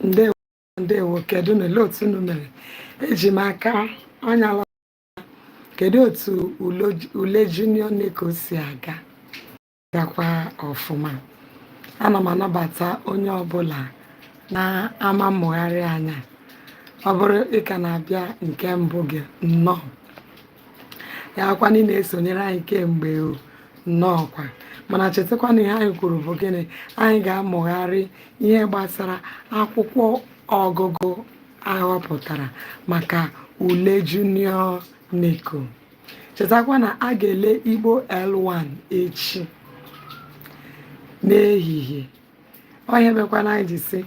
ndewo ndewo kedunụ olee otu unu mere eji m aka anya lọ kedu otu ule junior neco si aga gakwa ọfụma ana m anabata onye ọbụla n'ama mmụgharị anyị a ọ bụrụ ị ka na-abịa nke mbụ gị nnọọ ya bụkwanụ ị na-esonyere anyị kemgbe nnọọkwa mana chetakwa na ihe anyị kwuru bụ gịnị anyị ga-amụgharị ihe gbasara akwụkwọ ọgụgụ a họpụtara maka ule junior neco chetakwa na a ga-ele igbo l1 echi n'ehihie ọ ihe mekwanụ anyị ji sị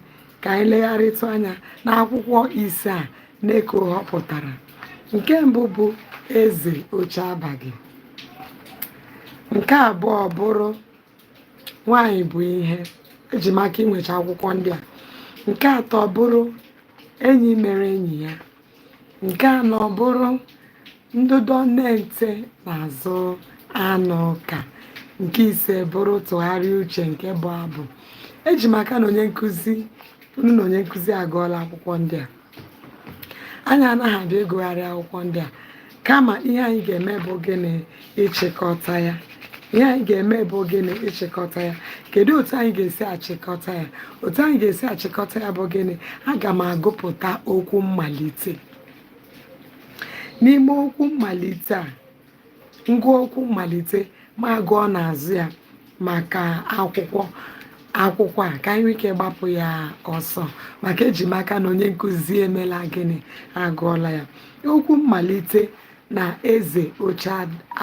ka anyị legharịtụ anya n'akwụkwọ ise a neco họpụtara nke mbụ bụ eze oche abaghị nke abụọ bụrụ nwanyị bụ ihe eji m aka i nwecha akwụkwọ ndị a nke atọ bụrụ enyi mere enyi ya nke anọ bụrụ ndụdọ na-ete nzu anụka nke ise bụrụ tụgharịa uche nke bụ abụ eji m aka na onye nkụzi unu na onye nkụzi agụọla akwụkwọ ndị a anyị anaghị abịa ịgụgharị akwụkwọ ndị a kama ihe anyị ga-eme bụ gịnị ịchịkọta ya ihe anyị ga-eme bụ gịnị ịchịkọta ya kedu otu anyị ga-esi achịkọta ya otu anyị ga-esi achịkọta ya bụ gịnị aga m agụpụta okwu mmalite n'ime okwu mmalite a m gụọ okwu mmalite ma gụọ n'azụ ya maka akwụkwọ akwụkwọ a ka anyị nwee ike gbapụ ya ọsọ maka eji m aka na onye nkụzi emela gịnị agụọla ya okwu mmalite na eze oche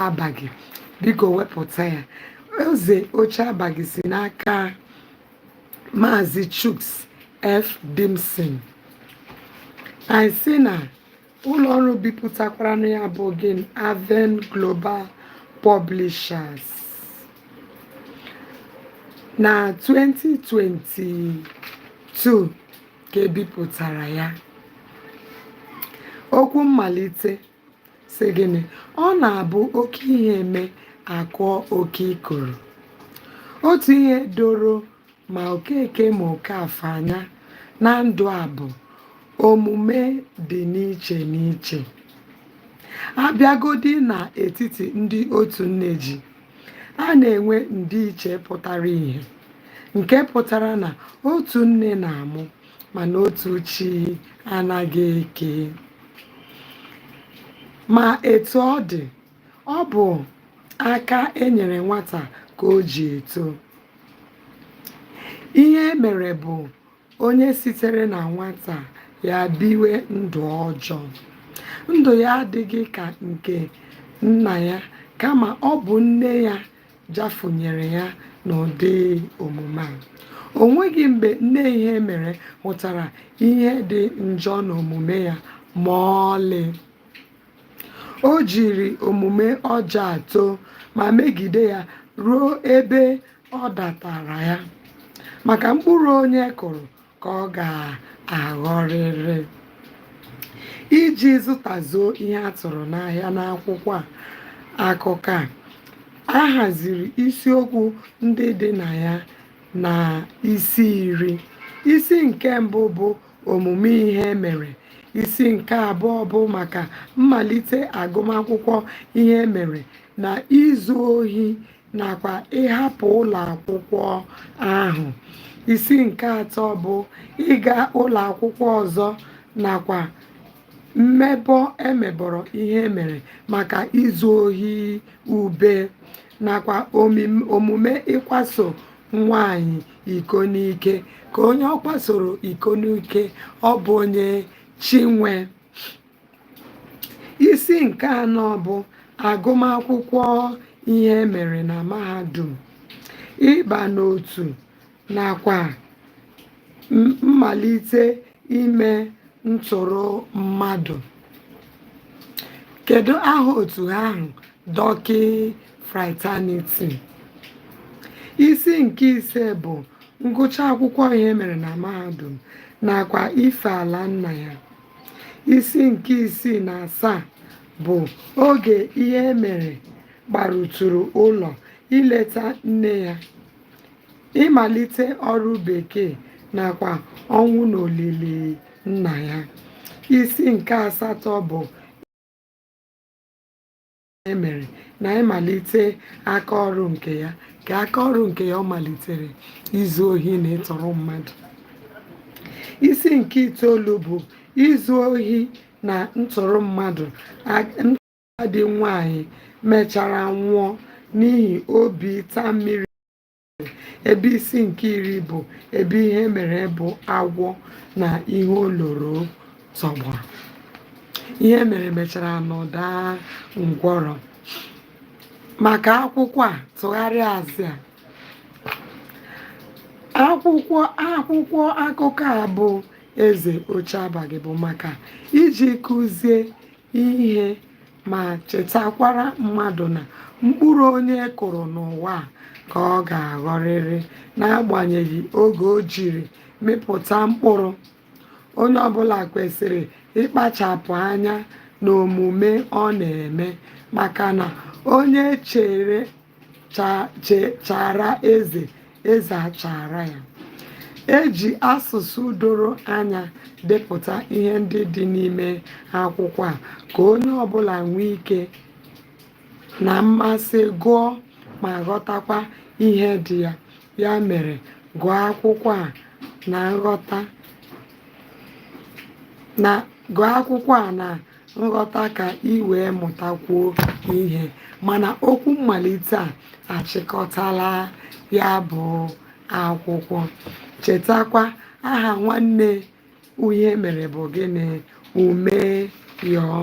abaghị biko wepụta ya eze oche abaghị si n'aka Maazị Chuks F. Dimson anyị sị na ụlọ ọrụ bipụtakwaranụ ya bụ gịnị Aven Global Publishers na 2022 ka e bipụtara ya okwu mmalite sị gịnị ọ na-abụ oke ihe mee a kụọ oke ikoro otu ihe doro ma okeke ma okafọ anya na ndụ a bụ omume dị n'iche n'iche a bịagodi n'etiti ndị otu nne ji a na-enwe ndịiche pụtara ihe nke pụtara na otu nne na-amụ mana otu chi anaghị eke ma etu ọ dị ọ bụ aka e nyere nwata ka o ji eto ihemere bụ onye sitere na nwata ya biwe ndụ ọjọọ ndụ ya adịghị ka nke nna ya kama ọ bụ nne ya jafunyere ya n'ụdị omume a o nweghị mgbe nne ihemere hụtara ihe dị njọ n'omume ya ma ọlị o jiri omume ọjọọ a too ma megide ya ruo ebe ọ datara ya maka mkpụrụ onye kụrụ ka ọ ga-aghọrịrị iji zụtazuo ihe a tụrụ n'ahịa n'akwụkwọ akụkọ a a haziri isiokwu ndị dị na ya na isi iri isi nke mbụ bụ omume ihemere isi nke abụọ bụ maka mmalite agụmakwụkwọ ihemere na izu ohi nakwa ịhapụ ụlọ akwụkwọ ahụ isi nke atọ bụ ịga ụlọ akwụkwọ ọzọ nakwa mmebọ e mebọrọ ihemere maka izu ohi ube nakwa omim- omume ịkwaso nwanyị iko n'ike ka onye ọ kwasoro iko n'ike ọ bụ onye chinwe isi nke anọ bụ agụmakwụkwọ ihemere na mahadum ịba n'otu nakwa m- mmalite ime ntọrọ mmadụ kedu aha otu ahụ dọkị fraternity isi nke ise bụ ngụcha akwụkwọ ihemere na mahadum nakwa ife ala nna ya isi nke isii na asaa bụ oge ihemere gbarutụrụ ụlọ ileta nne ya ịmalite ọrụ bekee nakwa ọnwụ na olili nna ya isi nke asatọ bụ emere na ịmalite aka ọrụ nke ya kee aka ọrụ nke ya ọ malitere izu ohi na ịtọrọ mmadụ isi nke itoolu bụ izu ohi na ntọrọ mmadụ agadi nwanyị mechara nwụọ n'ihi obi ịta mmiri ebe isi nke iri bụ ebe ihe mere bụ agwọ na ihe o loro tọgbọrọ Ihemere mecharanụ daa ngwọrọ maka akwụkwọ a tụgharịa azụ ya akwụkwọ akwụkwọ akụkọ a bụ eze oche abalị bụ maka iji kuzie ihe ma chetakwara mmadụ na mkpụrụ onye kụrụ n'ụwa ka ọ ga-aghọrịrị n'agbanyeghị oge o jiri mịpụta mkpụrụ onye ọbụla kwesịrị ịkpachapụ anya n'omume ọ na-eme maka na onye chere cha- che- chaara eze eze achaara ya e ji asụsụ doro anya depụta ihe ndị dị n'ime akwụkwọ a ka onye ọbụla nwee ike na mmasị gụọ ma ghọtakwa ihe dị ya ya mere gụọ akwụkwọ a na nghọta na gụọ akwụkwọ a na nghọta ka i wee mụtakwuo ihe mana okwu mmalite a achịkọtala ya bụ akwụkwọ chetakwa aha nwanne Ihemere bụ gịnị ume yọọ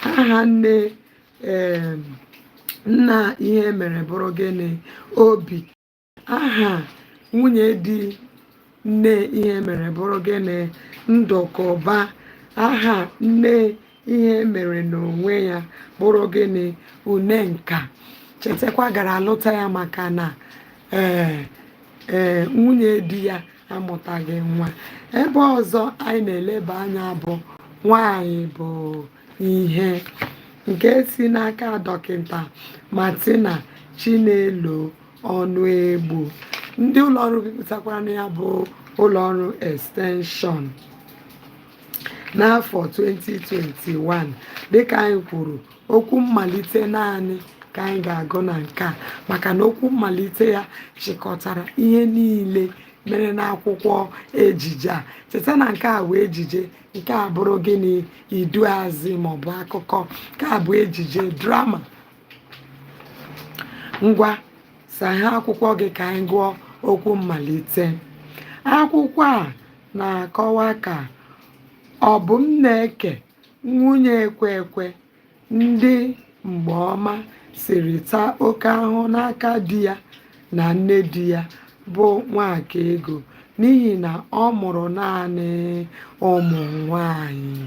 aha nne nna Ihemere bụrụ gịnị obi aha nwunye di nne Ihemere bụrụ gịnị Ndụkụba aha nne Ihemere n'onwe ya bụrụ gịnị une nka chetakwa gara alụta ya maka na ee ee nwunye di ya amụtaghị nwa ebe ọzọ anyị na-eleba anya bụ nwanyị bụ ihe nke si n'aka dọkịta Martina Chinelo Ọnụegbu ndị ụlọọrụ bipụtakwaranụ ya bụ ụlọọrụ extension n'afọ 2021 dịka anyị kwuru okwu mmalite naanị ka anyị ga-agụ na nke a maka na okwu mmalite ya chịkọtara ihe niile mere n'akwụkwọ ejije a cheta na nke a bụ ejije nke a bụrụ gịnị iduazị maọbụ akụkọ nke a bụ ejije drama ngwa saghe akwụkwọ gị ka anyị gụọ okwu mmalite akwụkwọ a na-akọwa ka Ọbụmneke nwunye Ekwekwe ndị mgbe ọma siri taa oke ahụhụ n'aka di ya na nne di ya bụ nwakaego n'ihi na ọ mụrụ naanị ụmụ nwanyị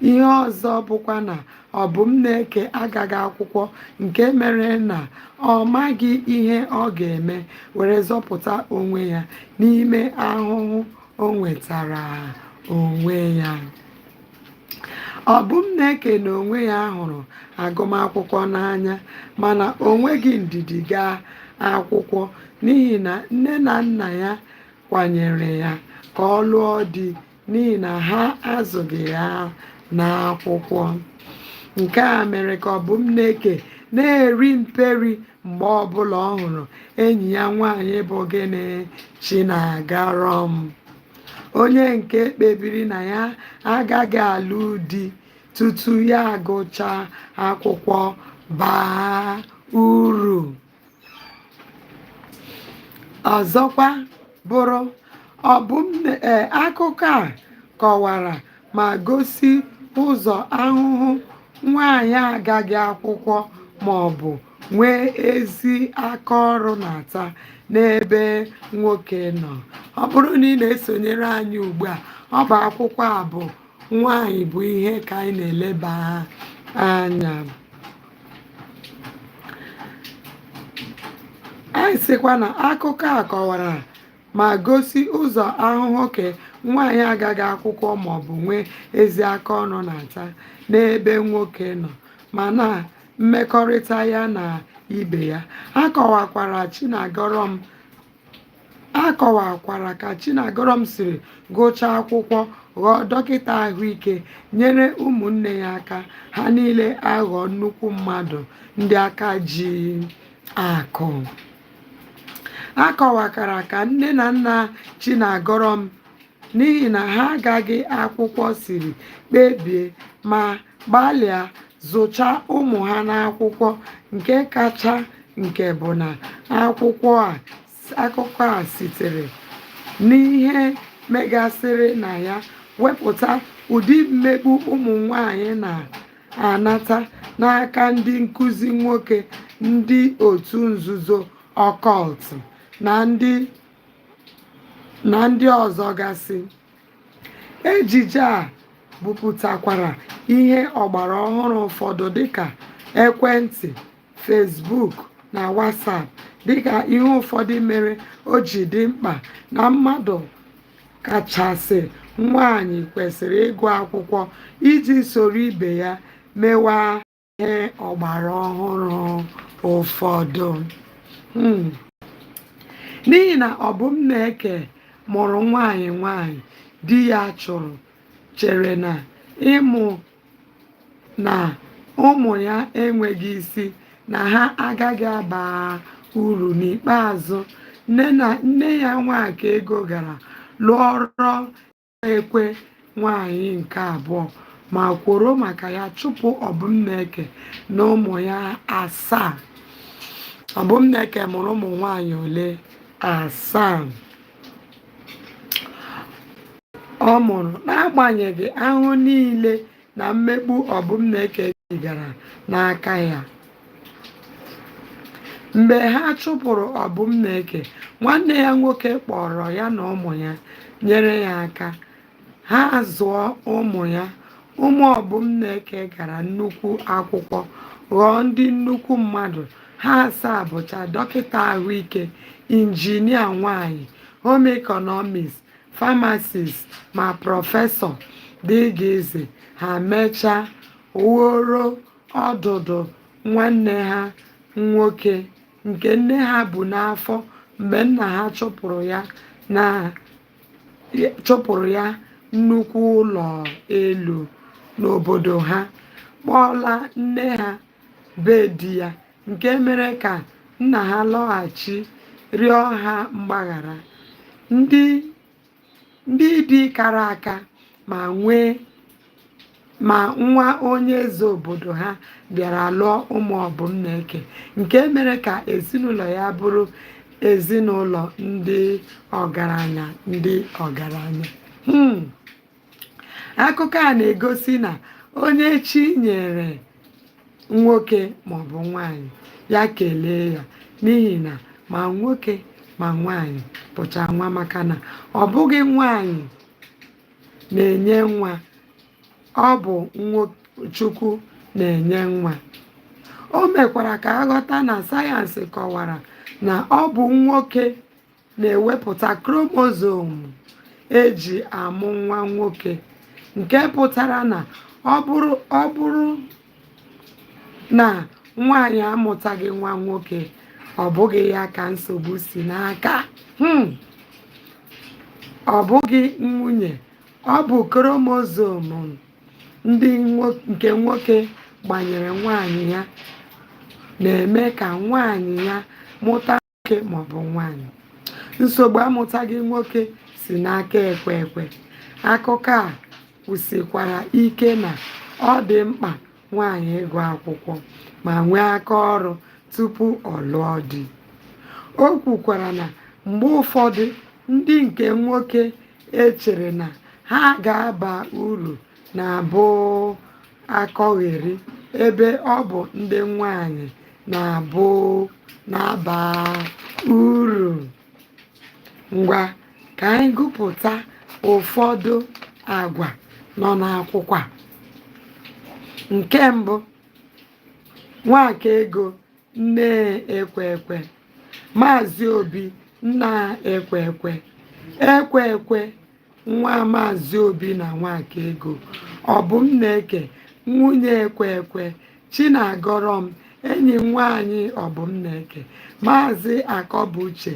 ihe ọzọ bụkwa na ọbụmneke agaghị akwụkwọ nke mere na ọ maghị ihe ọ ga-eme were zọpụta onwe ya n'ime ahụhụ o nwetara onwe ya Ọbụmneke na onwe ya hụrụ agụmakwụkwọ n'anya mana o nweghị ndidi gaa akwụkwọ n'ihi na nne na nna ya kwanyere ya ka ọ lụọ di n'ihi na ha azụghị ya n'akwụkwọ. Nke a mere ka Ọbụmneke na-eri mperi mgbe ọbụla ọ hụrụ enyi ya nwaanyị bụ gịnị Chinagọrọm. onye nke kpebiri na ya agaghị alụ di tutu ya agụchaa akwụkwọ baa uru ọzọkwa bụrụ ọ bụ m na- ee, akụkọ a kọwara ma gosi ụzọ ahụhụ nwaanyị agaghị akwụkwọ ma ọ bụ nwee ezi aka ọrụ na-ata n'ebe nwoke nọ ọ bụrụ na ị na-esonyere anyị ugbu a ọ bụ akwụkwọ a bụ nwanyị bụ ihe ka anyị na-eleba anya anyị sịkwa na akụkọ a kọwara ma gosi ụzọ ahụhụ nke nwaanyị agaghị akwụkwọ maọbụ nwee ezi aka ọrụ na-ata n'ebe nwoke nọ ma na mmekọrịta ya na ibe ya akọwakwara chinagọrọm akọwakwara ka chinagọrọm siri gụchaa akwụkwọ ghọọ dọkịta ahụike nyere ụmụnne ya aka ha niile aghọọ nnukwu mmadụ ndị aka ji akụ akọwakwara ka nne na nna chinagọrọm n'ihi na ha agaghị akwụkwọ siri kpebie ma gbalịa zụchaa ụmụ ha n'akwụkwọ nke kacha nke bụ na akwụkwọ a akụkọ a sitere n'ihe megasịrị na ya wepụta ụdị mmegbu ụmụ nwanyị na-anata n'aka ndị nkụzi nwoke ndị otu nzuzo occult na ndị na ndị ọzọ gasị ejije a bupụtakwara ihe ọgbara ọhụrụ ụfọdụ dịka ekwentị facebook na whatsapp dịka ihe ụfọdụ mere o ji dị mkpa na mmadụ kachasị nwaanyị kwesịrị ịgụ akwụkwọ iji soro ibe ya mewaa ihe ọgbara ọhụrụ ụfọdụ hmm. n'ihi na ọbụmneke mụrụ nwanyị nwanyị di ya chụrụ chere na ịmụ na ụmụ ya enweghị isi na ha agaghị aba uru n'ikpeazụ nne ya nwakaego gara lụọrọ ekwe nwanyị nke abụọ ma kworo maka ya chụpụ ọbụmneke na ụmụ ya asaa ọbụmneke mụrụ ụmụ nwanyị ole asaa ọ mụrụ n'agbanyeghị ahụ niile na mmegbu ọbụmneke gara n'aka ya mgbe ha chụpụrụ ọbụmneke nwanne ya nwoke kpọọrọ ya na ụmụ ya nyere ya aka ha zụọ ụmụ ya ụmụ ọbụmneke gara nnukwu akwụkwọ ghọọ ndị nnukwu mmadụ ha asaa bụcha dọkịta ahụike injinia nwanyị home economist famasist ma prọfesọ dgz ha mechaa wuoro ọdụdụ nwanne ha nwoke nke nne ha bu n'afọ mgbe nna ha chụpụrụ ya na chụpụrụ ya nnukwu ụlọ elu n'obodo ha kpọọla nne ha be di ya nke mere ka nna ha lọghachi rịọ ha mgbaghara ndị ndị di kara aka ma nwee ma nwa onye eze obodo ha bịara lụọ ụmụ ọbụmneke nke mere ka ezinụlọ ya bụrụ ezinụlọ ndị ọgaranya ndị ọgaranya Hmm. akụkọ a na-egosi na onye chi nyere nwoke maọbụ nwaanyị ya kelee ya n'ihi na ma nwoke ma nwaanyị bụcha nwa maka na ọ bụghị nwaanyị na-enye nwa ọ bụ chukwu na-enye nwa o mekwara ka a ghọta na sayensị kọwara na ọ bụ nwoke na-ewepụta kromozom e ji amụ nwa nwoke nke pụtara na ọ bụrụ ọ bụrụ na nwaanyị amụtaghị nwa nwoke ọ bụghị ya ka nsogbu si n'aka hmm. ọ bụghị nwunye ọ bụ kromozom ndị nke nwoke gbanyere nwaanyị ya na-eme ka nwaanyị ya mụta nwoke ma ọ bụ nwaanyị nsogbu amụtaghị nwoke si n'aka ekwekwe akụkọ a kwusikwara ike na ọ dị mkpa nwaanyị ịgụ akwụkwọ ma nwee aka ọrụ tupu ọ lụọ di o kwukwara na mgbe ụfọdụ ndị nke nwoke e chere na ha ga-aba uru na-abụ akọgheri ebe ọ bụ ndị nwanyị na-abụ na-aba uru ngwa ka anyị gụpụta ụfọdụ agwa nọ n'akwụkwọ a nke mbụ nwakaego nne ekwekwe maazị obi nna ekwekwe ekwekwe nwa maazị obi na nwakaego obumneke nwunye ekwekwe chinagọrọm enyi nwaanyị obumneke maazị akọbuche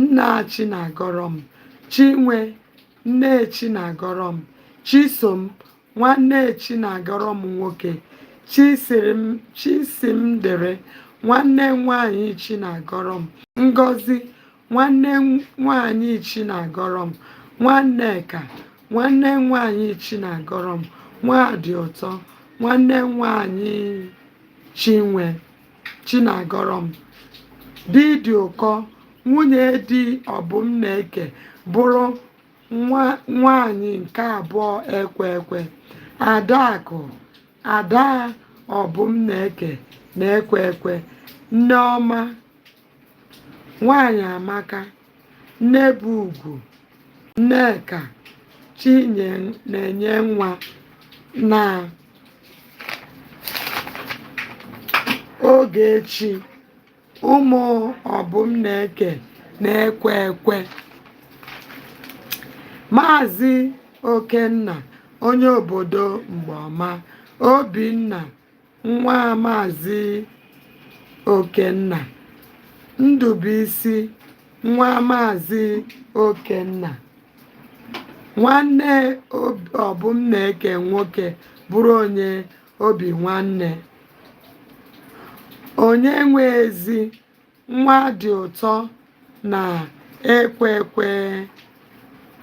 nna chinagọrọm chinwe nne chinagọrọm chisom nwanne chinagọrọm nwoke chisimdịrị nwanne nwaanyị chinagọrọm ngozi nwanne nwaanyị Chinagọrọm Nwanneka nwanne nwaanyị Chinagọrọm Nwadịụtọ nwanne nwaanyị Chinwe Chinagọrọm Didịụkọ nwunye di Obumneke bụrụ nwaanyị nke abụọ Ekwekwe Adaakụ ada Obumneke na Ekwekwe Nneọma Nwaanyịamaka, Nnebụugwu, Nneka, Chinenyenwa na Ogechi, ụmụ Obumneke na Ekwekwe. Maazị Okenna, onye obodo Mgbaọma, Obinna, nwa Maazị Okenna Ndụbụisi nwa Maazị Okenna nwanne Obumneke nwoke bụrụ onye obi nwanne onye nwe ezi nwa dị ụtọ na Ekwekwe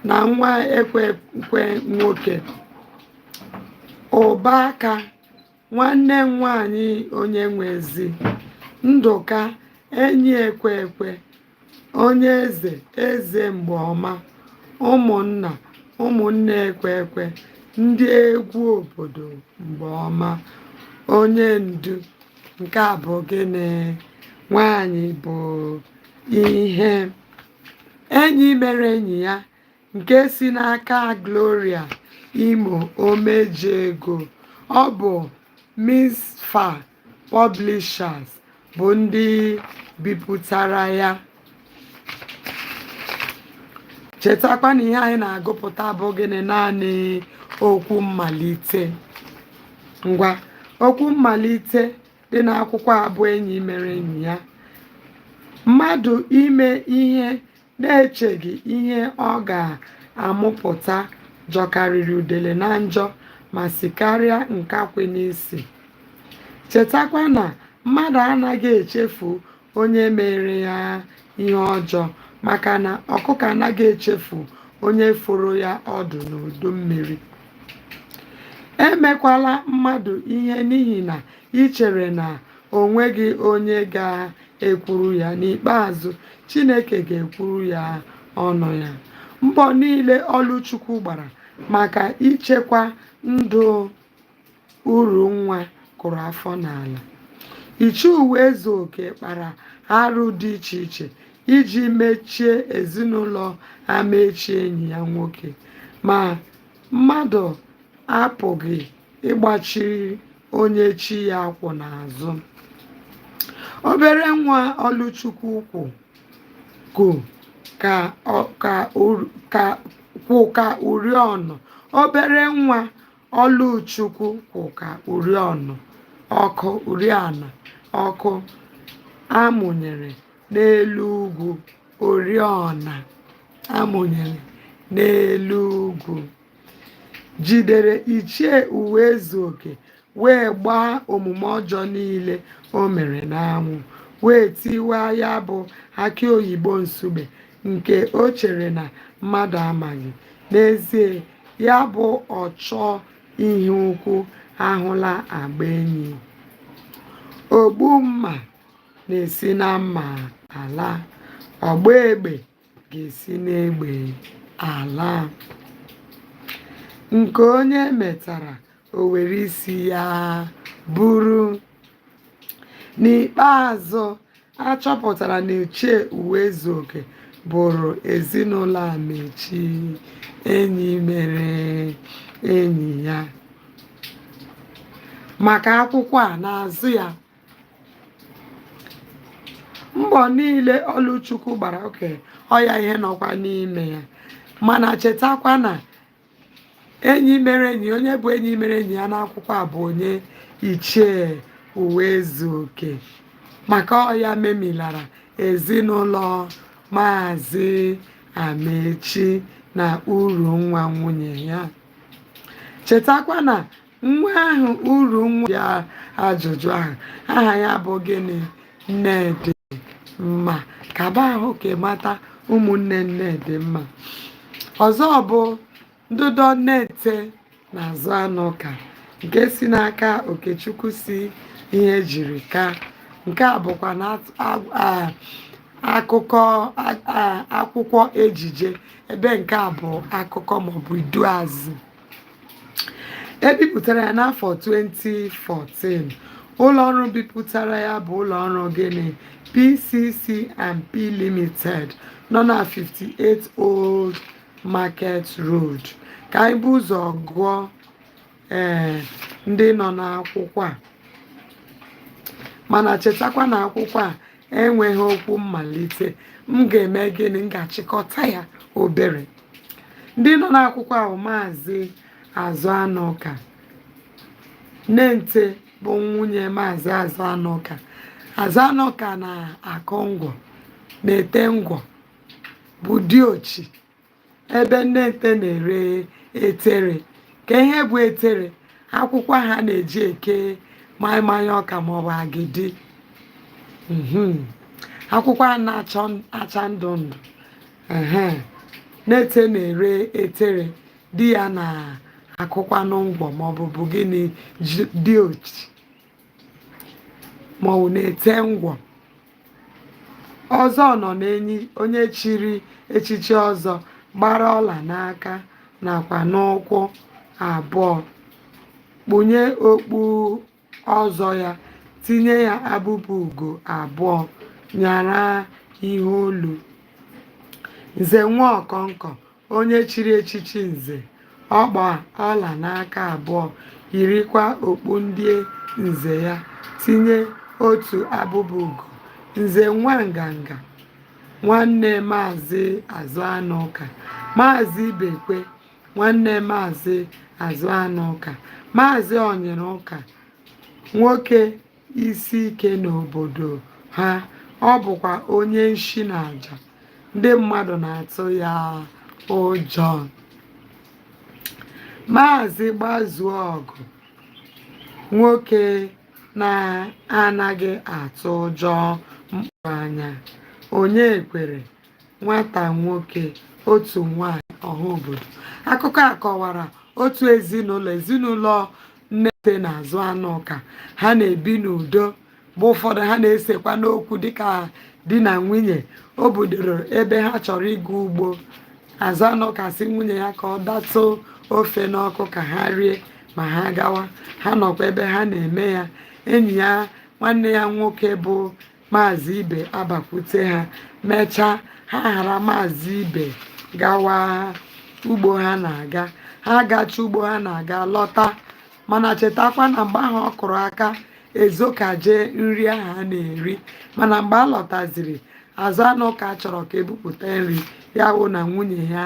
na nwa Ekwekwe nwoke Ụbaka nwanne m nwanyị onye nwe ezi ndụka enyi ekwe ekwe onye eze eze mgbe ọma ụmụnna ụmụnne ekwe ekwe ndị egwu obodo mgbe ọma onye ndu nke a bụ gịnị nwanyị bụ ihe enyi mere enyi ya nke si n'aka Gloria Imo Omejego ọ bụ Misfa Publishers bụ ndị bipụtara ya chetakwa na ihe anyị na-agụpụta bụ gịnị naanị okwu mmalite ngwa okwu mmalite dị n'akwụkwọ a bụ enyi mere enyi ya mmadụ ime ihe na-echeghị ihe ọ ga-amụpụta jọkarịrị udele na njọ ma sikarịa nkakwụ n'isi. Chetakwa na mmadụ anaghị echefu onye mere ya ihe ọjọọ maka na ọkụkọ anaghị echefu onye foro ya ọdụ n'udu mmiri. Emekwala mmadụ ihe n'ihi na i chere na o nweghị onye ga ekwuru ya n'ikpeazụ Chineke ga-ekwuru ya ọnụ ya mbọ niile Ọlụchukwu gbara maka ichekwa ndụ Urunwa kụrụ afọ n'ala Ichie Ụwaezuoke kpara arụ dị iche iche iji mechie ezinụlọ Amaechi enyi ya nwoke ma mmadụ apụghị ịgbachiri onye chi ya kwụ n'azụ obere nwa ọlụchukwu kwụ kwụ ka ọ- ka ur- ka- kwụ ka uriọna obere nwa ọlụchukwu kwụ ka uriọna ọkụ uriọna ọkụ a mụnyere n'elu ugwu oriọna a mụnyere n'elu ugwu jidere Ichie Ụwaezuoke wee gbaa omume ọjọọ niile o mere n'anwụ wee tiwa ya bụ aki oyibo nsugbe nke o chere na mmadụ amaghị n'ezie ya bụ ọchọ ihe ukwu ahụla agba enyi ogbu mma na-esi na mma ala ọgba egbe ga-esi n'egbe ala nke onye metara o were isi ya buru n'ikpeazụ a chọpụtara na ichie uwaezuoke bụrụ ezinụlọ amechi enyi mere enyi ya maka akwụkwọ a na-azụ ya mbọ niile ọlụchukwu gbara oke ọya ihe nọkwa n'ime ya mana chetakwa na enyi mere enyi onye bụ enyi mere enyi ya n'akwụkwọ a bụ onye ichie uwaezuoke maka ọ ya memilara ezinụlọ maazị amechi na urunwa nwunye ya chetakwa na Nwa ahụ urunwa ya ajụjụ ahụ aha ya bụ gịnị nnedịmma kaba ahụ ka ị mata ụmụnne nnedịmma ọzọ bụ ndụdọ nnente na azụanụka nke si n'aka okechukwu C ihejirika nke a bụkwa na at- a- a- akụkọ a- a- akwụkwọ ejije ebe nke a bụ akụkọ maọbụ iduuazị e bipụtara ya n'afọ 2014 ụlọọrụ bipụtara ya bụ ụlọọrụ gịnị PCC and P Limited nọ na 58 Old Market Road ka anyị bu ụzọ gụọ ee eh, ndị nọ n'akwụkwọ a mana chetakwa na akwụkwọ a enweghị okwu mmalite m ga-eme gịnị m ga-achịkọta ya obere ndị nọ n'akwụkwọ ahụ maazị azụanụka nnente bụ nwunye maazị azụanụka azụanụka na-akụ ngwọ na-ete ngwọ bụ diochi ebe nnente na-ere etere ka ihe bụ etere akwụkwọ ha na-eji eke maịmaị ọka maọbụ agidi mhm. akwụkwọ a na-acha ndụ ndụ nnente na-ere etere di ya na-akụkwanụ ngwọ maọbụ bụ gịnị diochi ma ọ na-ete ngwọ ọzọ ọnọnenyi onye chiri echichi ọzọ gbara ọla n'aka nakwa n'ụkwụ abụọ kpunye okpu ọzọ ya tinye ya abụba ugo abụọ nyara ihe olu nze nwa ọkọnkọ onye chiri echichi nze ọ gba ọla n'aka abụọ yirikwa okpu ndị nze ya tinye otu abụba ugo nze nwa nganga nwanne maazị azụ anụ ụka maazị ibekwe nwanne maazị azụ anụ ụka maazị onyere ụka nwoke isi ike n'obodo ha ọ bụkwa onye nshi na aja ndị mmadụ na-atụ ya ụjọ maazị gbazuo ọgụ nwoke na-anaghị atụ ụjọ mkpụrụ anya onyekwere nwata nwoke otu nwanyị ọha obodo akụkọ a kọwara otu ezinụlọ ezinụlọ nnete na azụ anụ ụka ha na-ebi n'udo mgbe ụfọdụ ha na-esekwanụ okwu dịka di na nwunye o bidoro ebe ha chọrọ ịga ugbo azụ anụ ụka sị nwunye ya ka ọ datụ ofe n'ọkụ ka ha rie ma ha gawa ha nọkwa ebe ha na-eme ya enyi ya nwanne ya nwoke bụ maazị ibe abakwute ha mechaa ha ghara maazị ibe gawa ugbo ha na-aga ha gacha ugbo ha na-aga lọta mana chetakwa na mgbe ahụ ọ kụrụ aka ezokaje nri ahụ ha na-eri mana mgbe a lọtaziri azụ anụ ụka chọrọ ka e bupụta nri ya wụ na nwunye ya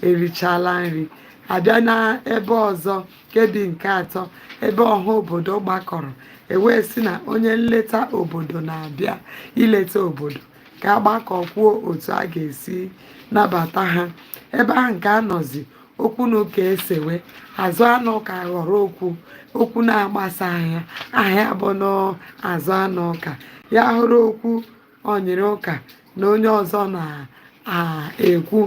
erichala nri a bịa n'ebe ọzọ nkebi nke atọ ebe ọha obodo gbakọrọ e wee sị na onye nleta obodo na-abịa ileta obodo ka a gbakọ kwuo otu a ga-esi nabata ha ebe ahụ nke a nọzi okwu na ụka esewe azụ anụ ụka ghọrọ okwu okwu na-agbasa ahịa aha ya bụnụ azụ anụ ụka ya hụrụ okwu onyere ụka na onye ọzọ na-ekwu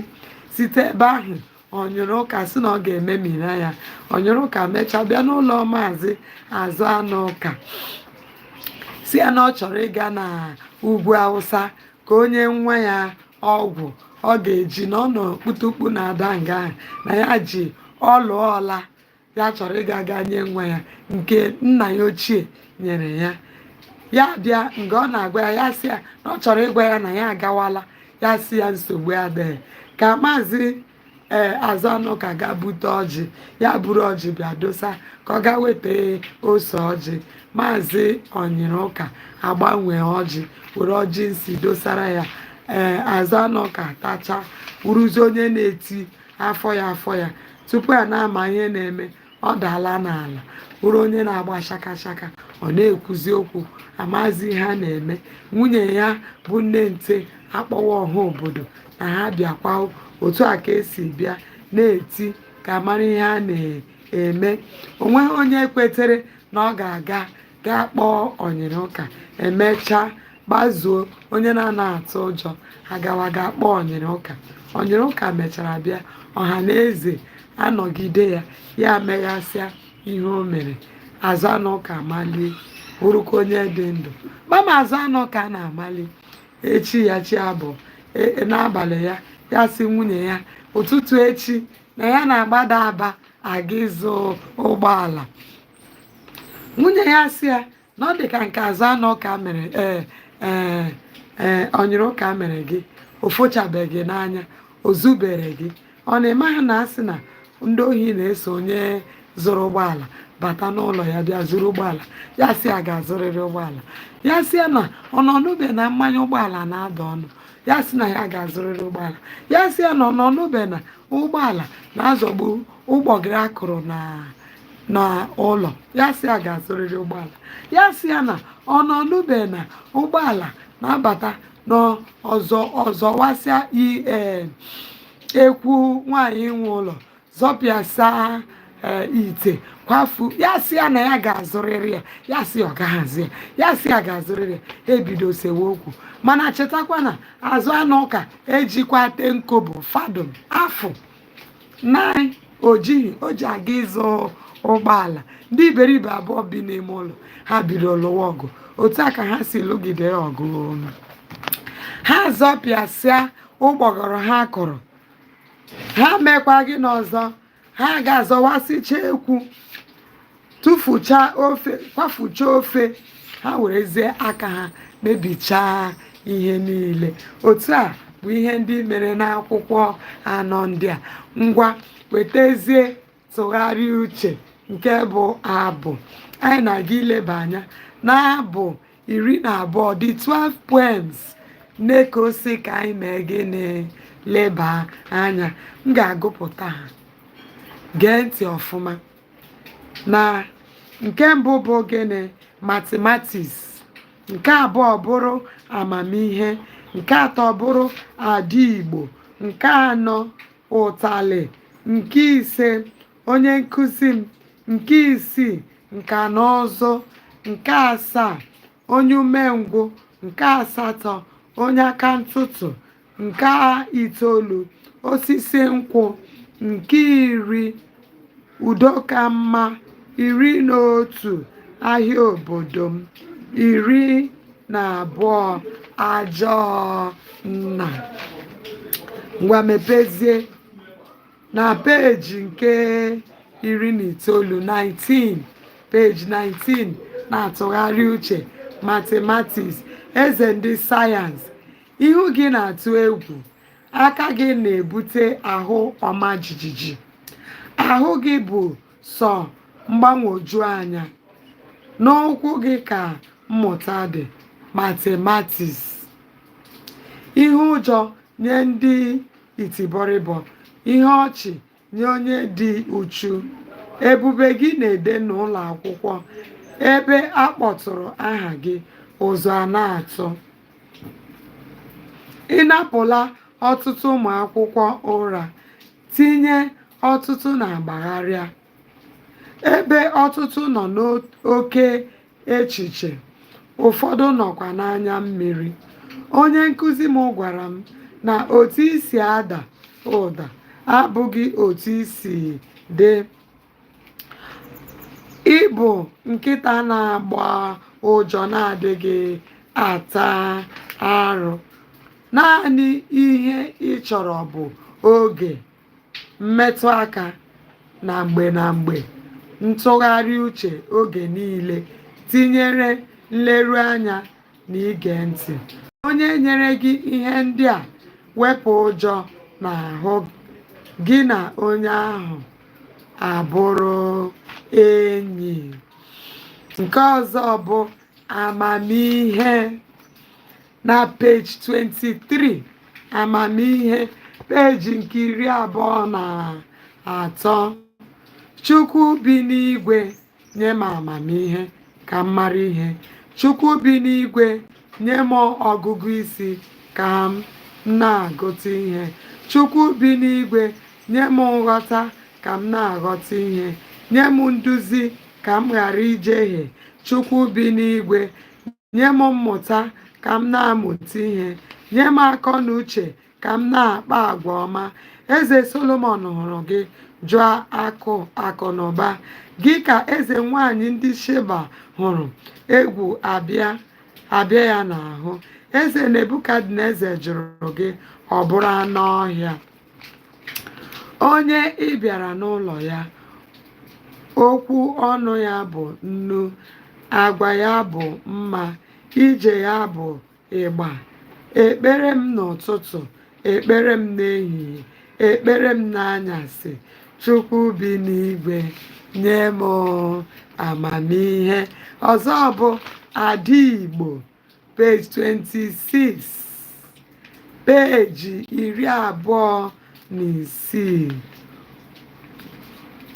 site ebe ahụ onyere ụka sị na ọ ga-ememina ya onyere ụka mechaa bịa n'ụlọ maazị azụ anụ ụka sị ya na ọ chọrọ ịga na ugwu awụsa ka o nye nwa ya ọgwụ ọ ga-eji na ọ nụ kputukpu na-ada nga ahụ na ya ji olu ọla ya chọrọ ịga ga nye nwa ya nke nna ya ochie nyere ya ya bịa mgbe ọ na-agwa ya ya sị ya na ọ chọrọ ịgwa ya na ya agawala ya sị ya nsogbu adịghị ka maazị ee azụ anụ ụka ga bute ọjị ya buru ọjị bịa dosa ka ọ ga weta ose ọjị maazị onyere ụka agbanwee ọjị were ọjị nsi dosara ya ee azụ anụ ụka tacha wụrụzi onye na-eti afọ ya afọ ya tupu a na-ama ihe na-eme ọ daala n'ala bụrụ onye na-agba shaka shaka ọ na-ekwuzi okwu amazi ihe a na-eme nwunye ya bụ nne nte akpọwa ọha obodo na ha bịakwa otu a ka e si bịa na-eti ka a mara ihe a na-eme o nweghị onye kwetere na ọ ga-aga gaa kpọọ ọnyịrịụka e mechaa gbazuo onye na-anaghị atụ ụjọ agawa gaa kpọọ ọnyịrịụka ọnyịrịụka mechara bịa ọha na eze anọgide ya ya meghasịa ihe o mere azụanụka amalie bụrụkwa onye dị ndụ mama azụanụka na-amali echi ya chi abọọ e- e- n'abalị ya ya sị nwunye ya ụtụtụ echi na ya na-agbada aba aga ịzụ ụgbọala nwunye ya asị ya na ọ dị ka nke azụanụka mere ee ee ee ọnyịrịụka mere gị o fochabeghị n'anya o zubere gị ọ na ị maha na a sị na ndị ohi na-eso onye zụrụ ụgbọala bata n'ụlọ ya bịa zuru ụgbọala ya sị ya ga-azụrịrị ụgbọala ya sị ya na ọ na ọ nụbe na mmanya ụgbọala na-ada ọnụ ya sị na ya ga-azụrịrị ụgbọala ya sị ya na ọ na ọ nụbe na ụgbọala na-azọgbu ụgbọgụrụ a kụrụ na n'ụlọ ya sị ya ga-azụrịrị ụgbọala ya sị ya na ọ na ọ nụbe na ụgbọala na-abata n'ụzọ zọwasịa ee ekwu nwaanyị nwe ụlọ zọpịasa ee ite kwafuo ya sị ya na ya ga-azụrịrị ya ya sị ọ gaha azụ ya ya sị ya ga-azụrịrị ya ha ebido sewe okwu mana chetakwa na azụanụka ejikwa ten kobo fadịn afụ naị o jighị o ji aga ịzụ ụgbọala ndị iberibe abụọ bi n'ime ụlọ ha bidoro lụwa ọgụ otu a ka ha si lụgide ya ọgụ ha zọpịasịa ụgbọgụrụ ha kụrụ ha mekwa gịnị ọzọ ha gaa zọwasịchaa ekwu tụfucha ofe kwafucha ofe ha werezie aka ha mebichaa ihe niile otu a bụ ihe ndị mere n'akwụkwọ anọ ndị a ngwa wetazie ntụgharị uche nke bụ abụ anyị na-aga ileba anya n'abụ iri na abụọ the 12 poems neco sị ka anyị mee gịnị leba anya m ga-agụpụta ha gee ntị ọfụma na nke mbụ bụ gịnị mathematics nke abụọ bụrụ amamihe nke atọ bụrụ adị igbo nke anọ ụtalị nke ise onye nkụzi m nke isii nka na ụzụ nke asaa onye umengwụ nke asatọ onye aka ntụtụ nke itoolu osisi nkwụ nke iri udo ka mma iri na otu ahịa obodo m iri na abụọ ajọọ nna ngwa mepezie na peji nke iri na itoolu 19 peji 19 na-atụgharị uche matematiks eze ndị sayensị ihu gị na-atụ egwu aka gị na-ebute ahụ ọma jijiji ahụ gị bụ sọ mgbagwoju anya n'ụkwụ gị ka mmụta dị matematiks ihe ụjọ nye ndị itibọrịbọ ihe ọchị nye onye dị uchu ebube gị na-ede n'ụlọ akwụkwọ ebe a kpọtụrụ aha gị ụjọ a na-atụ ị napụla ọtụtụ ụmụ akwụkwọ ụra tinye ọtụtụ n'ọgbaghara ebe ọtụtụ nọ n'oke echiche, ụfọdụ nọkwa n'anya mmiri. Onye nkụzi m gwara m na otu i si ada ụda abụghị otu i si dị. Ị bụ nkịta na-agbọ ụja na-adịghị ata arụ. Naanị ihe ị chọrọ bụ oge. mmetụ aka na mgbe na mgbe ntụgharị uche oge niile tinyere nleruanya na ige ntị onye nyere gị ihe ndị a wepụ ụjọ n'ahụ gị na onye ahụ abụrụ enyi nke ọzọ bụ amamihe na peji 23 amamihe peji nke iri abụọ na atọ chukwu bi n'igwe nye m amamihe ka m mara ihe chukwu bi n'igwe nye m ọgụgụ isi ka m na-agụta ihe chukwu bi n'igwe nye m nghọta ka m na-aghọta ihe nye m nduzi ka m ghara ijehie chukwu bi n'igwe nye m mmụta ka m na-amụta ihe nye m akọ na uche ka m na-akpa agwa ọma eze solomon hụrụ gị jụ akụ akụ na ụba gị ka eze nwanyị ndị sheba hụrụ egwu abịa ya n'ahụ eze nebukadneza jụrụ gị ọ bụrụ anụ ọhịa Onye ị bịara n'ụlọ ya, okwu ọnụ ya bụ nnu, agwa ya bụ mma, ije ya bụ ịgba. Ekpere m n'ụtụtụ, ekpere m n'ehihie, ekpere m n'anyasị, Chukwu bi n'igwe, nye m amamihe. Ọzọ bụ ada Igbo. page 26 peji iri abụọ na isii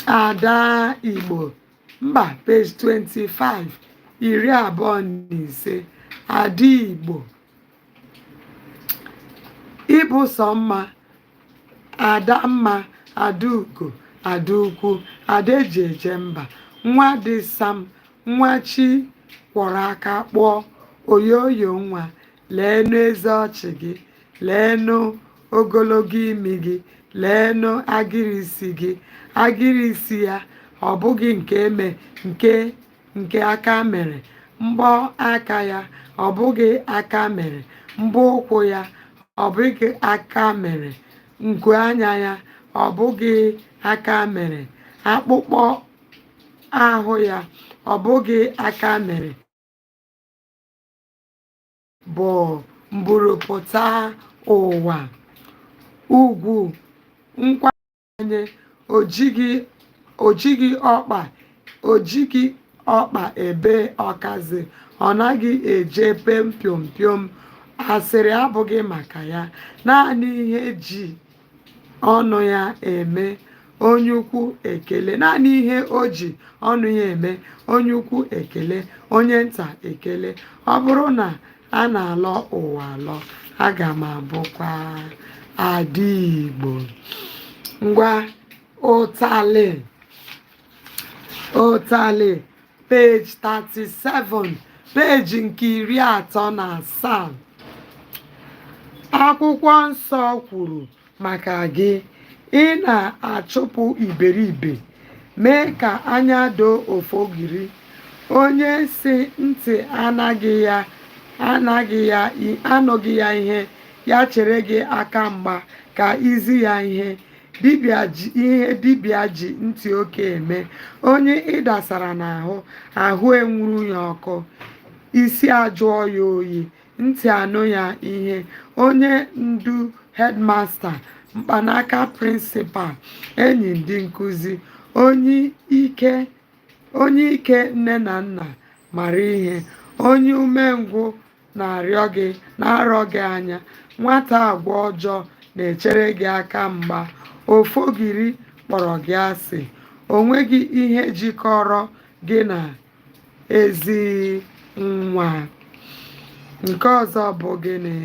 ada igbo mba page 25 iri abụọ na ise ada igbo ị bụ sọ mma ada mma ada ugo ada ukwu ada eji eje mba nwa dị sam Nwa chi kwọrọ aka kpụọ oyoyo nwa leenụ eze ọchị gị leenụ ogologo imi gị leenụ agịrị isi gị agịrị isi ya ọ bụghị nke eme nke nke aka mere mbọ aka ya ọ bụghị aka mere mbọ ụkwụ ya ọ bụghị aka mere nku anya ya ọ bụghị aka mere akpụkpọ ahụ ya ọ bụghị aka mere bụ mburupụta ụwa ugwu nkwanye o jighị o jighị ọkpa ebe ọkazị ọ naghị eje pem piom piom asịrị abụghị maka ya naanị ihe ji ọnụ ya eme onye ukwu ekele naanị ihe o ji ọnụ ya eme onye ukwu ekele onye nta ekele ọ bụrụ na a na-alọ ụwa alọ aga m abụkwa ada igbo ngwa ụtalị ụtalị page 37 peji nke iri atọ na asaa akwụkwọ nsọ kwuru maka gị ị na-achụpụ iberibe mee ka anya doo ofogiri onye si ntị anụghị ya ihe ya chere gị aka mgba ka i zi ya ihe ihe dibịa ji ntị oke eme onye ị dasara n'ahụ ahụ enwuru ya ọkụ isi ajụọ ya oyi ntị anụ ya ihe onye ndu hedmasta mkpanaka prịnsịpal enyi ndị nkuzi onye ike nne na nna mara ihe onye umengwụ na-arọ gị anya nwata agwa ọjọọ na-echere gị aka mgba ofogiri kpọrọ gị asị o nweghị ihe jikọrọ gị na ezi nwa nke ọzọ bụ gịnị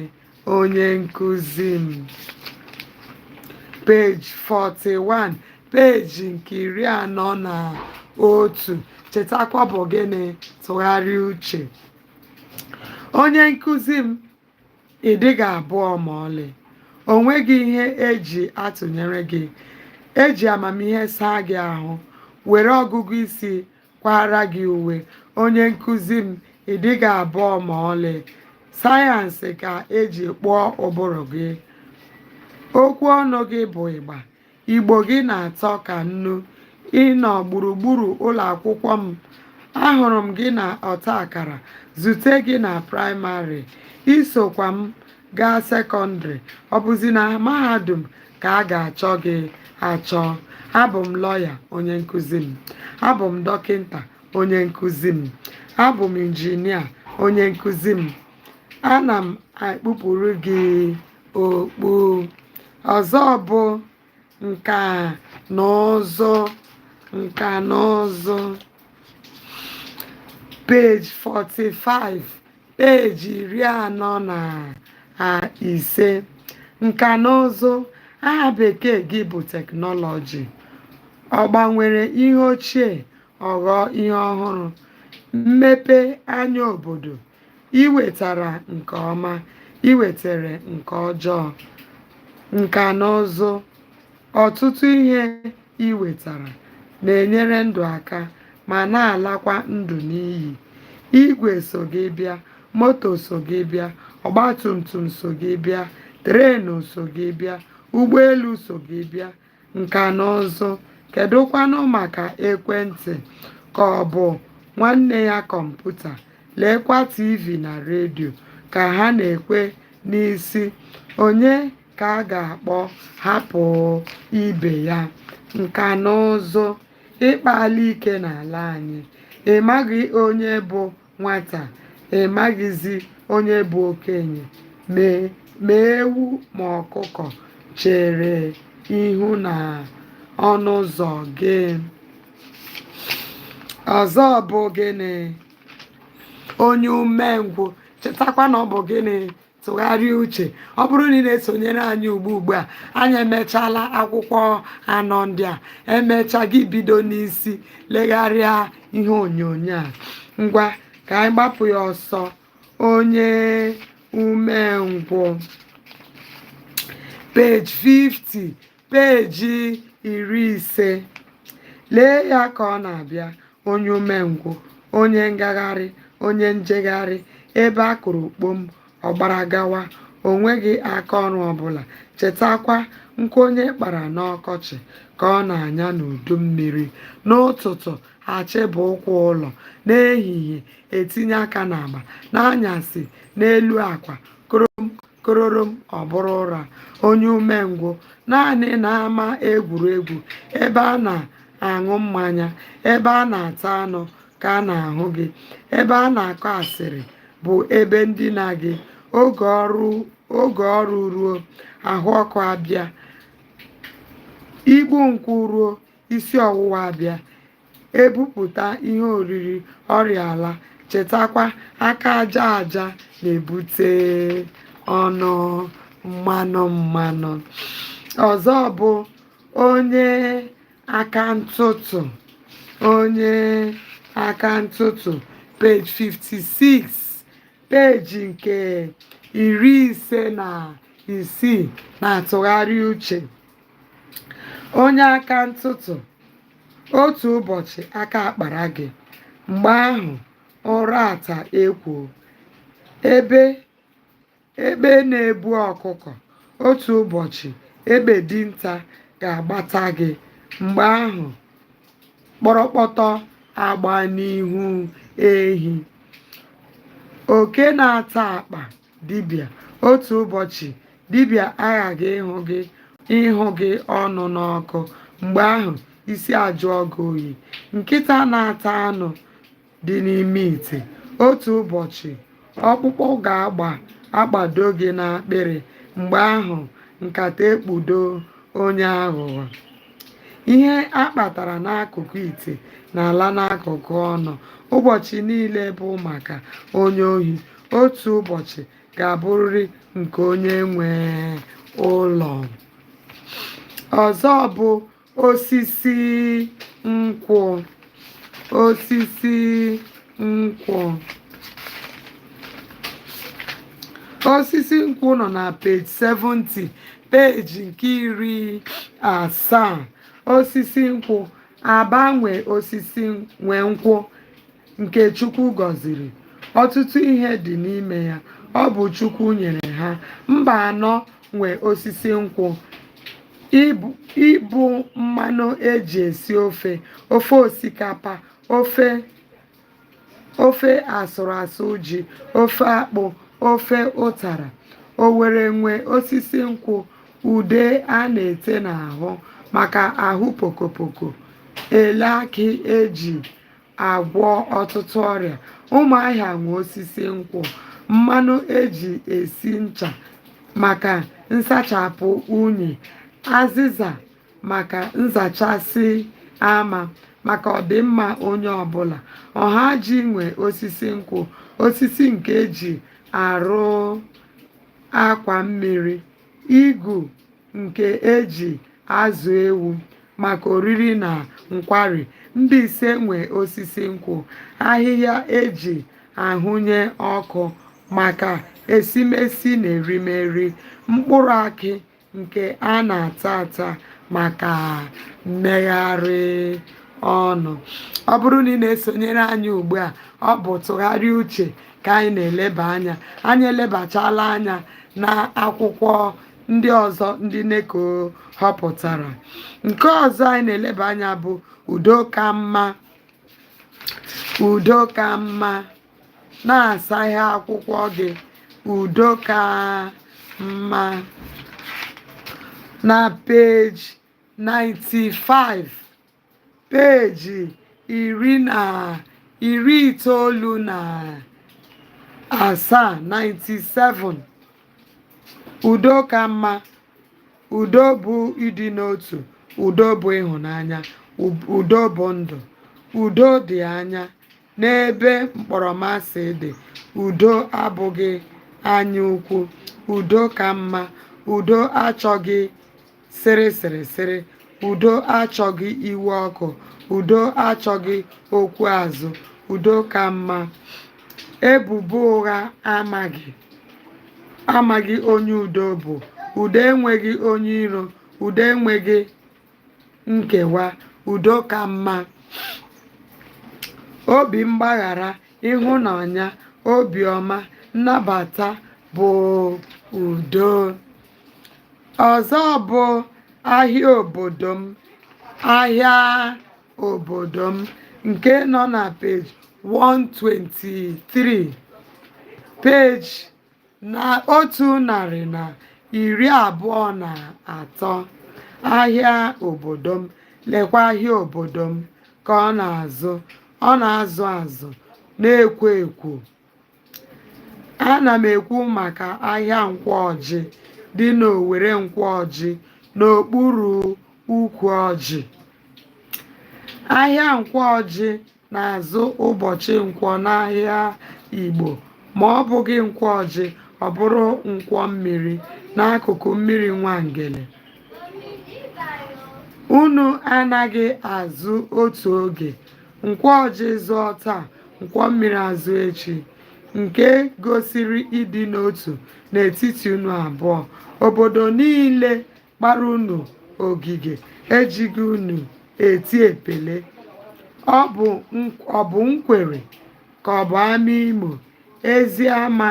onye nkụzi m peji 41 peji nke iri anọ na otu chetakwa bụ gịnị tụgharịa uche onye nkụzi m ị dịghị abụọ ma ọlị o nweghị ihe e ji atụnyere gị e ji amamihe saa gị ahụ were ọgụgụ isi kwaara gị uwe onye nkụzi m ị dịghị abụọ ma ọlị sayensị ka e ji kpụọ ụbụrụ gị okwu ọnụ gị bụ ịgba Igbo gị na-atọ ka nnu. Ị nọ gburugburu ụlọ akwụkwọ m. Ahụrụ m gị na ọta akara, zute gị na praịmarị. I sokwa m gaa sekọndịrị. Ọ bụzi na mahadum ka a ga-achọ gị achọ. Abụ m lọya, onye nkụzi m. Abụ m dọkịta, onye nkụzi m. Abụ m injinia, onye nkụzi m. Ana m ekpupụrụ gị okpu ọzọ bụ nka na ụzụ nka na ụzụ page 45 peji iri anọ na a- ise nka na ụzụ aha bekee gị bụ teknọlọji ọ gbanwere ihe ochie ọ ghọọ ihe ọhụrụ mmepe anya obodo i wetara nke ọma i wetere nke ọjọọ nka na ụzụ ọtụtụ ihe i wetara na-enyere ndụ aka ma na-alakwa ndụ n'iyi igwe so gị bịa moto so gị bịa ọgbatumtum so gị bịa trenu so gị bịa ụgbọelu so gị bịa nka na ụzụ kedụkwanụ maka ekwentị ka ọ bụ nwanne ya kọmputa leekwa tv na redio ka ha na-ekwe n'isi onye ka a ga-akpọ hapụ ibe ya nka na ụzụ ị kpaala ike n'ala anyị ị maghị onye bụ nwata ị maghịzi onye bụ okenye mee ma ewu ma ọkụkọ chere ihu na ọnụ ụzọ gị ọzọ bụ gịnị onye umengwụ chetakwa na ọ bụ gịnị tụgharịa uche ọ bụrụ na ị na-esonyere anyị ugbu ugbu a anyị emechaala akwụkwọ anọ ndị a emecha gị bido n'isi legharịa ihe onyonyo a ngwa ka anyị gbapụ ya ọsọ onye umengwụ page 50 peeji iri ise lee ya ka ọ na-abịa onye umengwụ onye ngagharị onye njegharị ebe a kụrụ kpom ọ gbara gawa o nweghị aka ọrụ ọbụla chetakwa nkụ onye kpara n'ọkọchị ka ọ na-anya n'udu mmiri n'ụtụtụ achịba ụkwụ ụlọ n'ehihie etinye aka n'agba n'anyasị n'elu akwa korom kororom ọ bụrụ ụra onye umengwụ naanị n'ama egwuregwu ebe a na-aṅụ mmanya ebe a na-ata anụ ka a na-ahụ gị ebe a na-akọ asịrị bụ ebe ndina gị oge ọrụ oge ọrụ ruo ahụ ọkụ abịa igbu nkwụ ruo isi ọwụwa abịa e bupụta ihe oriri ọrịa alaa chetakwa aka aja aja na-ebute ọnụ mmanụ mmanụ ọzọ bụ onye aka ntụtụ onye aka ntụtụ page 56 peji nke iri ise na isii na tụgharịa uche onye aka ntụtụ otu ụbọchị aka akpara gị mgbe ahụ ụra ata ekwo egbe na-ebu ọkụkọ otu ụbọchị egbe dinta ga-agbata gị mgbe ahụ kpọrọkpọtọ agba n'ihu ehi oke na-ata akpa dibịa otu ụbọchị dibịa aghaghị ịhụ gị ịhụ gị ọnụ n'ọkụ mgbe ahụ isi ajụọ gị oyi nkịta na-ata anụ dị n'ime ite otu ụbọchị ọkpụkpụ ga-agba agbado gị n'akpịrị mgbe ahụ nkata ekpudo onye aghụghọ ihe a kpatara n'akụkụ ite na-ala n'akụkụ ọnụ ụbọchị niile bụ maka onye ohi otu ụbọchị ga-abụrịrị nke onye nwe ụlọ ọzọ bụ osisi nkwụ osisi nkwụ osisi nkwụ nọ na peji 70 peji nke iri asaa osisi nkwụ agbanwe osisi nwe nkwụ nke Chukwu gọziri ọtụtụ ihe dị n'ime ya ọ bụ Chukwu nyere ha mbaanọ nwe osisi nkwụ ịbụ mmanụ eji esi ofe ofe osikapa ofe ofe asụrụ asụ ji ofe akpụ ofe ụtara owere nwe osisi nkwụ ude a na-ete n'ahụ maka ahụ pokopoko elu akị eji agwọ ọtụtụ ọrịa ụmụahịa nwe osisi nkwụ mmanụ eji esi ncha maka nsachapụ unyi azịza maka nzachasị ama maka ọdịmma onye ọbụla ọhaji nwe osisi nkwụ osisi nke eji arụ akwa mmiri igu nke e ji azụ ewu maka oriri na nkwari mbaise nwe osisi nkwụ ahịhịa eji ahụnye ọkụ maka esimesi na erimeri mkpụrụ akị nke a na-ata ata maka mmegharị ọnụ ọ bụrụ na ị na-esonyere anyị ugbu a ọ bụ tụgharịa uche ka anyị na-eleba anya anyị elebachala anya na akwụkwọ ndị ọzọ ndị neko họpụtara nke ọzọ anyị na-eleba anya bụ udo ka mma udo ka mma na-asaghe akwụkwọ gị udo ka mma na peji 95 peeji iri na iri itoolu na asaa 97 udo ka mma udo bụ ịdị n'otu udo bụ ịhụnanya udo bụ ndụ udo dị anya N'ebe mkpọrọmasị dị, udo abụghị anya ukwu, udo ka mma, udo achọghị sịrị sịrị sịrị, udo achọghị iwe ọkụ, udo achọghị okwu azụ, udo ka mma. Ebubo ụgha amaghị amaghị onye udo bụ, udo enweghị onye iro, udo enweghị nkewa udo ka mma obi mgbaghara ịhụnanya obiọma nnabata bụ udo ọzọ bụ ahịa obodo m ahịa obodo m nke nọ na page 123 page na otu narị na iri abụọ na atọ ahịa obodo m lekwa ahịa obodo m ka ọ na-azụ ọ na-azụ azụ na-ekwo ekwo ana m ekwu maka ahịa nkwọ ọjị dị n'owere nkwọ ọjị n'okpuru ukwu ọjị ahịa nkwọ ọjị na-azụ ụbọchị nkwọ n'ahịa Igbo ma ọ bụghị nkwọ ọjị ọ bụrụ nkwọ mmiri n'akụkụ mmiri Nwangele unu anaghị azụ otu oge nkwọ ọjị zụọ taa nkwọ mmiri azụọ echi nke gosiri ịdị n'otu n'etiti unu abụọ obodo niile kpara unu ogige ejighị unu eti epele ọ bụ nk- ọ bụ nkwere ka ọ bụ amaimo eziama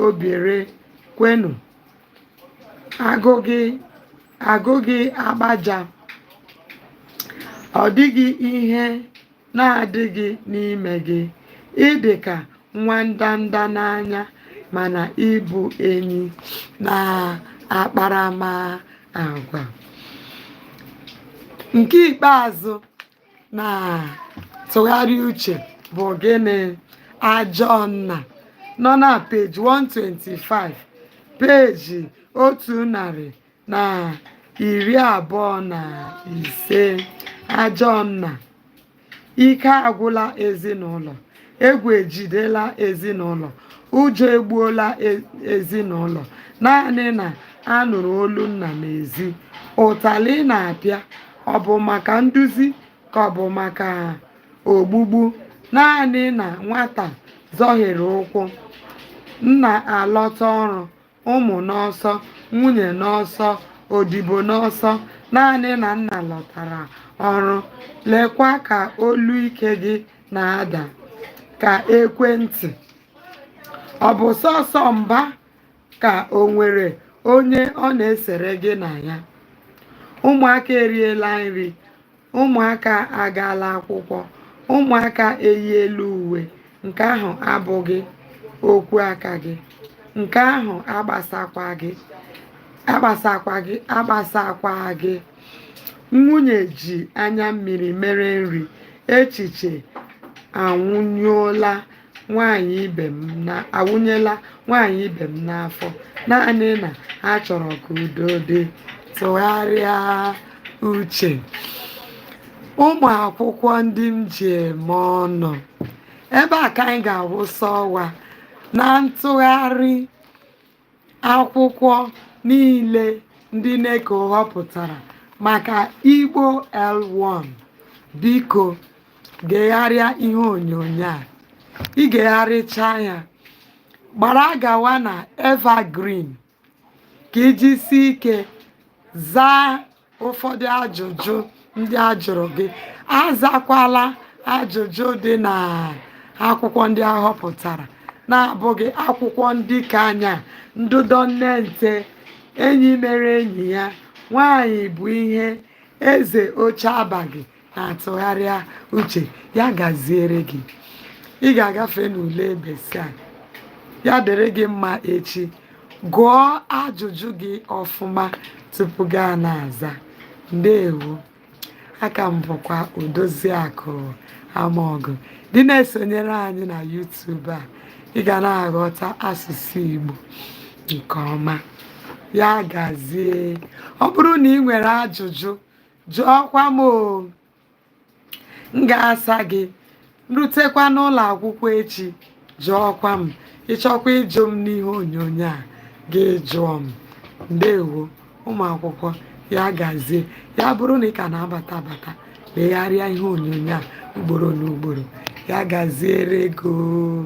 obaire kwenu agụghị agụghị agbaja ọ dịghị ihe na-adịghị n'ime gị ị dị ka nwa ndanda n'anya mana ị bụ enyi n'akparamagwa nke ikpeazụ na ntụgharị uche bụ gịnị ajọ nna nọ na peji 125 peji otu narị na iri abụọ na ise ajọ nna ike agwụla ezinụlọ egwu ejidela ezinụlọ ụjọ egbuola e- ezinụlọ naanị na a nụrụ olu nna n'ezi ụtalị na-apịa ọ bụ maka nduzi ka ọ bụ maka ogbugbu naanị na nwata zọhiere ụkwụ nna alọta ọrụ ụmụ n'ọsọ, nwunye n'ọsọ, odibo n'ọsọ, naanị na nna lọtara ọrụ. Lekwa ka olu ike gị na-ada ka ekwentị. Ọ bụ sọsọ mba ka o nwere onye ọ na-esere gị na ya. Ụmụaka eriela nri, ụmụaka agaala akwụkwọ ụmụaka eyiela uwe nke ahụ abụghị okwu aka gị nke ahụ agbasakwa gị agbasakwa gị agbasakwa gị nwunye ji anya mmiri mere nri echiche anwụnyụọla nwaanyị ibe m na awụnyela nwaanyị ibe m n'afọ naanị na ha chọrọ ka udo dị tụgharịa uche ụmụ akwụkwọ ndị m ji eme ọnụ ebe a ka anyị ga-awụsa ọwa na ntụgharị akwụkwọ niile ndị NECO họpụtara maka igbo l1 biko gegharịa ihe onyonyo a i gegharịchaa ya gbara gawa na evergreen ka i jisie ike zaa ụfọdụ ajụjụ ndị a jụrụ gị azakwala ajụjụ dị n'akwụkwọ ndị a họpụtara na-abụghị akwụkwọ ndị ka anya ndụdọ nne nte enyi mere enyi ya nwanyị bụ ihe eze oche abaghị na-atụgharịa uche ya gaziere gị ị ga-agafe n'ule BECE a ya dịrị gị mma echi gụọ ajụjụ gị ọfụma tupu gị a na-aza ndewo aka m bụkwa odoziakụ amaọgụ dị na-esonyere anyị na YouTube a ị ga na-aghọta asụsụ Igbo nke ọma ya gazie ọ bụrụ na ị nwere ajụjụ jụọkwa m m ga-asa gị rutekwa n'ụlọ akwụkwọ echi jụọkwa m ị chọkwa ịjụ m n'ihe onyonyo a gị jụọ m ndewo ụmụ akwụkwọ ya gazie ya bụrụ na ị ka na-abata abata legharịa ihe onyonyo a ugboro na ugboro ya gaziere gị o